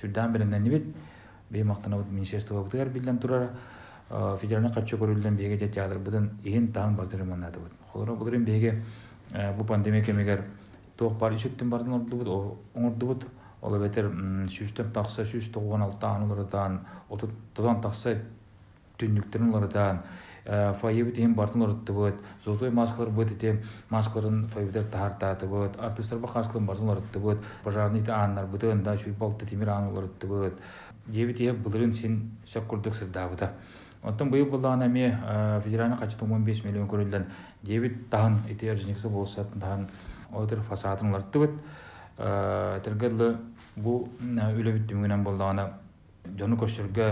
Сүрдээн бэлэмнэннибит. Бэйи махтанабыт министерствобытыгар биллэн турар федеральный хаччы көрүллэн биһиги дьэ театрбытын иһин таһын бардыры маннаатыбыт. Холоро былырын биһиги бу пандемия кэмигэр туох баар үсүктүн бардын оҥордубут. Ол эбэтэр сүүстэн тахса сүүс тоҕуон алта аан уларытаан отут тотон тахса түннүктэрин уларытаан, фойебыт иһин бартын уларыттыбыт, золотой маскаларбыт ити маскаларын фойебыта таһартаатыбыт, артыстарба харсылын бартын уларыттыбыт, пожарный ити ааннарбытын, да чүл балта тимир аан уларыттыбыт. Диэбит ийэ былырын син сөк курдук сырдаабыта. Оттон быйыл былаана эмиэ федеральный хачытын 15 миллион көрүллэн диэбит таһын ити Орджоникса болсат таһын отыр фасадын уларыттыбыт. Этергеллы бу үлэбит түмүгүнэн болдаана дьону көрсөргө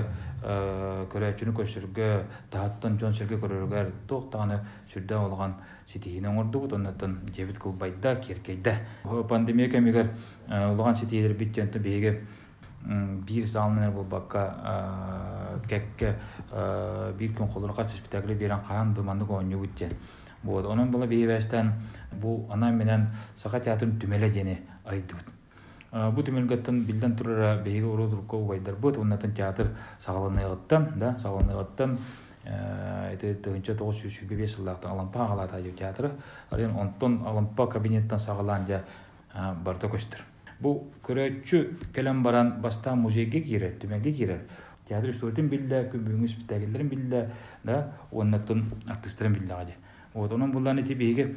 көрөөччүнү көрсөргө таһыттан дьон-сэргэ көрөрүгэр туох даҕаны сүрдээх улахан ситиһиини оҥордубут оннуттан дьиэбит кылбайда киэркэйдэ пандемия кэмигэр улахан ситиһиилэр бүт диэн биһиги биир залынан буолбакка кэккэ биир күн холурҕа спектакль биэрэн хаһан да маннык оонньуубут диэн буолуо онон была биһиэбээстээн бу анаан минээн саха театрын түмэлэ диэни арыйдыбыт Бу түмүлгэттэн биллэн турара биһиги урулурукка убайдарбыт уоннатан театр саҕаланыаҕыттан, да саҕаланыаҕыттан ити тыһынча тоҕус жүз сүүсүүргэ биэс сыллаахтан Алампа аҕалаата театра. Арин онтон Алампа кабинеттан саҕалаан дьэ барыта көстөр. Бу көрөөччү кэлэн баран бастаан музейге киирэр, түмэлгэ киирэр. Театр историятын биллэ, бүгүҥҥү спектакльлэрин биллэ, да уоннаттан артыыстарын биллэҕэ дии. Вот онон буллаан ити биһиги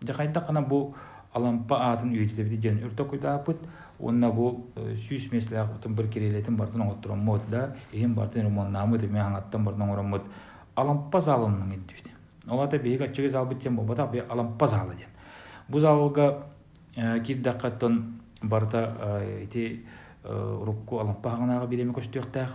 Дьэ хайдаххына бу Алампа аатын үйэтитэбит диэн өртөкуйдааппыт уонна бу сүүс миэстэлээх отун быр кириэлэтин бартын оҥоттороммут да, иһин бартын ремоннааммыт, эмиэ хаҥаттан бартын оҥороммут Алампа заалынан ирдибит. Ол аата биһиги аччыгы заалбыт диэн буолбатах, биһи Алампа заала диэн. Бу заалга киирдэххиттэн барыта ити урукку Алампа хаҥанааҕы бириэмэ көстүөхтээх.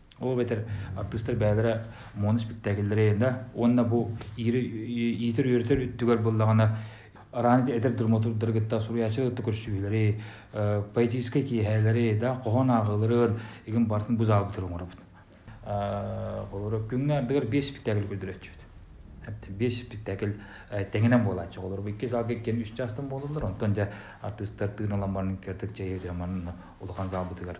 Ол бэтэр артыыстар бэйэлэрэ муону спектакльлэри да уонна бу иитэр-үөрэтэр үттүгэр буллаҕына араан эдэр драматурдары кытта суруйааччы кытта көрсүһүүлэри, поэтическай киэһээлэри да хоһоон ааҕыыларын игин бартын бу заалбытыр оҥоробут. Олору күҥҥэ ардыгар биэс спектакль көрдөрөччүбүт. Биэс спектакль тэҥинэн буолааччы. Олор бу икки заалга иккиэн үс чаастан буолаллар. Онтон дьэ артыыстар тыыналаммарын кэрдик чэйи дьамарын улахан заалбытыгар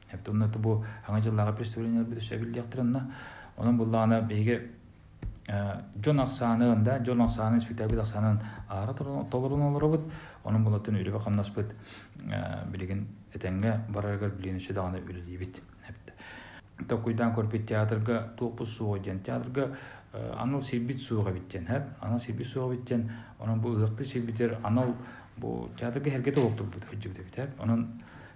Эбит онно бу Аңа дьыллааҕы преступленияларбыт өссө эбиллиэхтэр онно. Онон буллаҕына биһиги дьон ахсаанын да, дьон ахсаанын, спектакль ахсаанын аара толорун олоробут. Онон булаттан үрүбэ хамнаспыт билигин этенге барарыгар билиэн үсө даҕаны үлэлиибит. Токуйдаан көрбүт театрга туоппус суоҕа диэн театрга анал сирбит суох эбиттен хэп анал сирбит суох эбиттен онон бу ыһыктыы сирбитер анал бу театрга хэрге толуктурбут өйдүбүт эбит хэп онон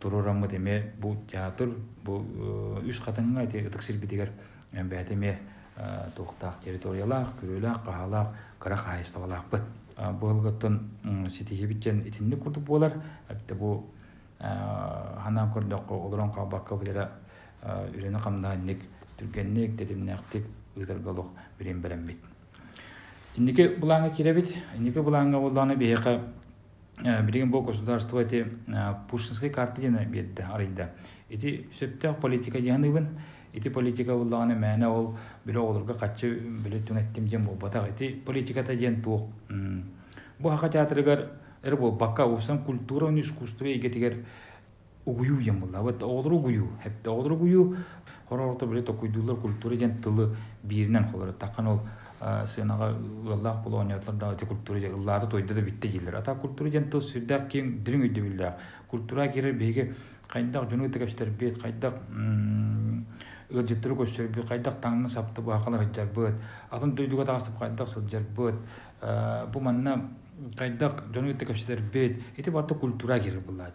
турураммыт эмиэ бу театр бу үс хатыҥҥа ити ытык сирбитигэр бэйэтэ эмиэ туохтаах территориялаах, күрүөлээх, хаһаалаах кыра хаһаайыстыбалаахпыт. Быһылгыттан ситиһибит диэн итинник курдук буолар. Эбитэ бу ханаан көрдөххө олорон хаалбакка бүтэрэ үлэни-хамнаанньык түргэнник, тэтимнээхтик ыытарга олох билим бэлэммит. Инники былааҥҥа киирэбит. Инники былааҥҥа буоллаҕына биһиэхэ билигин бу государствоти пушинскай карта диэни биэрдэ арыйда ити сөптөөх политика дьаныыбын ити политика буллаҕына мээнэ ол били оҕолорго хаччы били түҥэттим диэн буолбатах ити политиката диэн туох бу саха театрыгар эр буолбакка усан культура искусство эйгэтигэр угуйуу еммыллабыт оҕолору угуйуу эпте оҕолору угуйуу хороорто били токуйдуулар культура диэн тылы бииринэн холорутаккан ол сыанаҕа ыаллаах болу оонньоотулар ити культура диэн ыллаата тойда да бүттэ дииллэр ата культура диэн тыл сүрдээх киэҥ дириҥ өйдөбүллээх культура киирэр биһиги хайдах дьону ытык эпстербит хайдах ыалдьыттары көссөрбүт хайдах таҥны сапты баахалар сылдьарбыт атын дойдуга таҕастып хайдах сылдьарбыт бу манна хайдах дьону ытык эпстербит ити барта культура киирэр былаат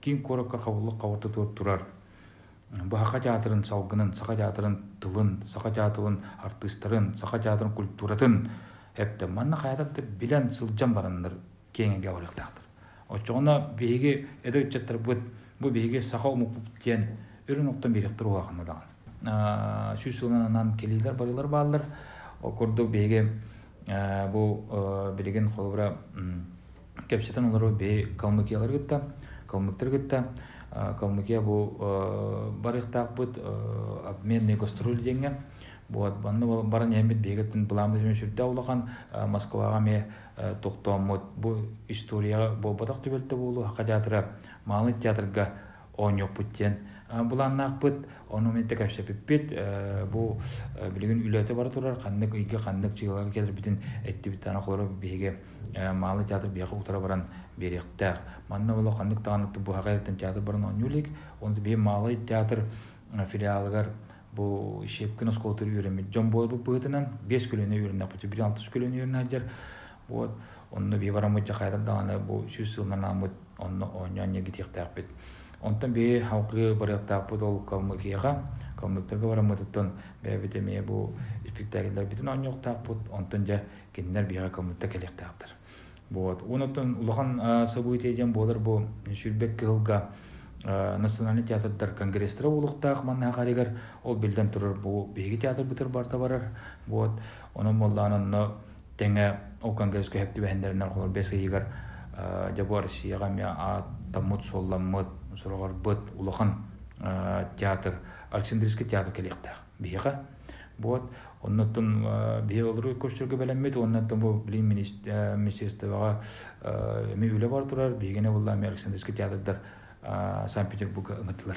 киин куоракка хабыллык-хабыр тутуор турар Баһаха театрын салгынын, саха театрын тылын, саха театрын артыыстарын, саха театрын культуратын эптэ. Манна хайатан да билэн, сылдьан бараннар киэҥэге ауырыахтаахтар. Оччоҕуна биһиги эдэр ыччаттарбыт бу биһиги саха омукпут диэн үрүн оттон биэриэхтэр уһаахана даҕаны. Сүүс сылынан анаан кэлиилэр барыылар бааллар. Ол курдук биһиги бу билигин холобура кэпсэтэн олору бэйи калмыкиялары кытта калмыктары кытта калмыкия бу барыахтаахпыт обменный гастроль диэҥҥэ буот манна баран иһэммит биһигиттэн былааммыт сүрдээх улахан Москваҕа эмиэ тохтооммут бу историяҕа буолбатах түбэлтэ буолуо хадьаатыра маалы театрга оонньуохпут диэн былааннаахпыт. Ону мин да кэпсэпиппит. Бу билигин үлэте бара турар ханнык ыйга ханнык дьыалаға кэлбитин эттибит ана холоро биһиги маалы театр биһиги утара баран бериэхтээх. Манна боло ханнык тааныкты бухаҕайыттан театр баран оонньуулик. Оны биһи маалы театр филиалыгар бу Щепкин осколатыр үөрэммит дьон буолбут быһытынан 5 көлөнө үөрэннэхпит. 1 6 көлөнө үөрэннэхтер. Вот. Онно бивараммыт дьахаайдар даҕаны бу сүүс сылынан ааммыт онно оонньоон ньиргитиэхтээхпит. Онтон бэйи халкы барыахтаахпыт ол калмыкияҕа, калмыктарга бараммытыттан бэйэбит эмиэ бу спектакльлэрбитин оонньуохтаахпыт, онтон дьэ кинилэр биһиги калмыкта кэлиэхтээхтэр. Вот. Онутун улахан событие диэн буолар бу Сүлбэк кыһылга национальный театрдар конгресстара буолуохтаах манна харигар ол биллэн турар бу биһиги театр бытыр барта барар. Вот. Онон боллаан онно Тэҥэ ол күнгэ үскэһэп түбэһиннэринэн холор бес ыйыгар дьабу Россияга эмиэ ааттаммыт, суолламмыт, сороҕорбут улахан театр, Александрийский театр кэлиэхтээх биһиэхэ. Вот. Оннуттан биһи олору көрсөргө бэлэммит, оннуттан бу билин министерствоға эми үле бар турар, бигене булла Александрийский театрдар Санкт-Петербурга ыңытылар.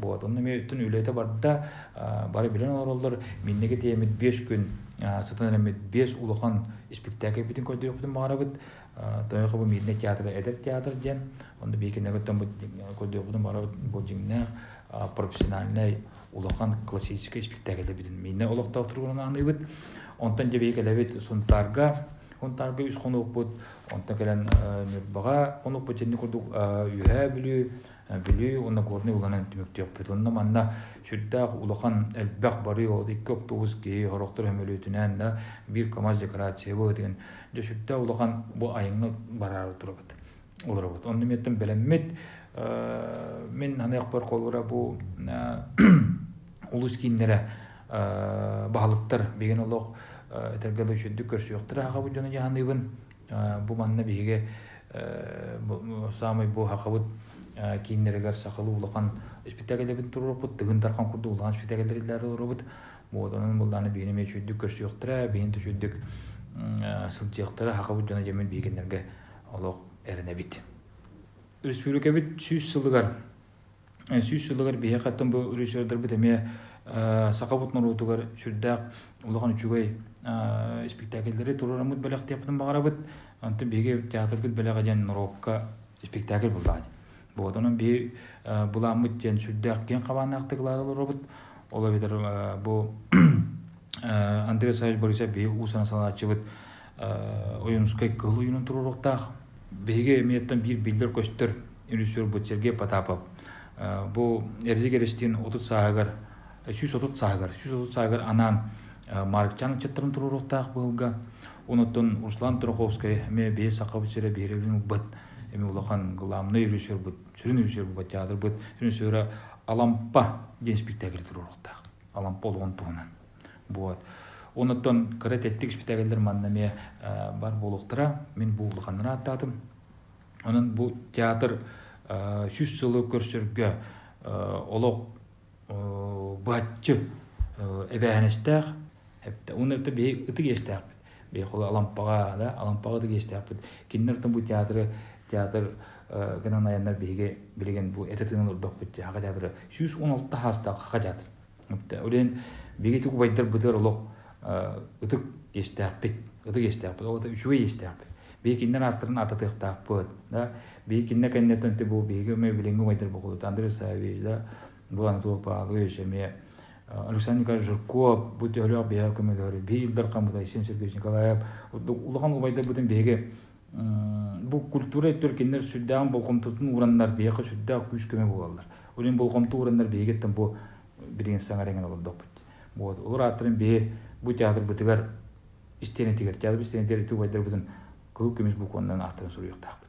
Вот. Онно үмүттүн үлэтэ барда. Бары билэн олороллор. Миннеге тиэмит беш күн сытан эреммит беш улахан спектакль битин көрдөрөхпүтүн баарабыт. Тойоқы бу Мирне театра эдер театр диэн. Онда бейкенегаттан бу көрдөрөхпүтүн баарабыт бу жиңнех профессиональный улахан классический спектакль битин. Минне олохтоох туругунан аныыбыт. Онтон же бейкелебит Сунтарга Онтарга үс хонукпут, онтон кэлэн Ньурбаҕа хонукпут тенни курдук үһээ бүлүү Бүлүү уонна Горнай уланан түмүктүөхпүт. Онно манна сүрдээх улахан элбэх бары ол икки оптуобус киһи хорохтор хөмөлүөтүнээн да биир КАМАЗ декорация быһытын дьэ сүрдээх улахан бу айыҥҥа бараары турабыт олоробут. Онно миэттэн бэлэммит мин аныахпар холура бу улус кииннэрэ баһылыктар бигэн олох этэргэлэ үшүрдүк көрсүөхтэрэ хабы дьону яһаныыбын Бу манна биһиги саамай буохахабыт кииннэригэр сахалыы улахан испитээгэлэбин туруорбут, Тыгын Тархан курдук улахан испитээгэллэр олоробут. Вот онон буллааны биһини мечүрдүк көрсүөхтэрэ, биһин төчүрдүк сылдьыахтара, хахабыт дьоно дьэмин биһигиннэргэ олох эрэнэбит. Республикабыт сүүс сылыгар сүүс сылыгар биһиэхэ хаттан бу режиссердарбыт эмиэ сахабыт норуотугар сүрдээх улахан үчүгэй спектакльлэри туруораммыт бэлэхтиэхпитин баҕарабыт онтон биһиги театрбыт бэлэҕэ диэн норуокка спектакль буллаҕа вот онон биһи булааммыт диэн сүрдээх киэҥ хабааннаахтык ылаары олоробут ол эбэтэр бу Андрей Исаевич Борисов биһи уусана салааччыбыт Ойуунускай кыһыл ойуунун туруоруохтаах. Биһиги эмиэттэн биир биллэр-көстөр режиссер будет Сергей Потапов. Бу Эрдик Эристин отут сааһыгар, сүүс отут сааһыгар, сүүс отут сааһыгар анаан Маркчан ыччаттарын туруоруохтаах быһылга. Онуттан Руслан Троховскай эмиэ биһи сахабыт сирэ биһири ылбыт эми улахан главный режиссер бут сүрүн режиссер бут театр бут сүрүн сыра Алампа диэн спектакль туруоруохтаах. Алампа олоҕун туһунан. буолар. Оннотон кыра тэттик испитээгэллер манна эмиэ бар буолуохтара. Мин бу улаханнара ааттаатым. Онон бу театр сүүс сылы көрсөргө олох баччы эбээһинэстээх эптэ. Уна это бей ытык естах. Бей хола алампаға да, алампаға ытык естахпыт. Киннертен бу театры театр гынан аяннар биһиге билеген бу эті тынын урдокпут театр 116 хаста хака театр. Үлэн бигити кубайдарбытыгар олох ытык иэстээхпит, ытык иэстээхпит, ол үчүгэй иэстээхпит. Биһикиннен ааттарын аататыахтаахпыт. Да, биһикинне кэннеттен ти бу биһиги өмө билинги убайдар бокулут Андрей Савич, да, бу Анатолий Павлович, эме Александр Николаевич Жирков, бу төһөлөөх биһиги көмөлөөр, биһи Илдар Камытай, Сен Сергеевич Николаев, улахан убайдарбытын биһиги бу культура өттүгэр кинилэр сүрдээҕин болҕомтотун уураннар биһиэхэ сүрдээх күүс-көмө буолаллар. Олин болҕомто уураннар биһигиттэн бу билигин саҥа эрэҥэн олордохпут. Вот. Олор ааттарын биһи бу театрбытыгар истиэнэтигэр, театр истиэнэтигэр иту байдарбытын кыһыл көмүс букваннан ааттарын суруйуохтаахпыт.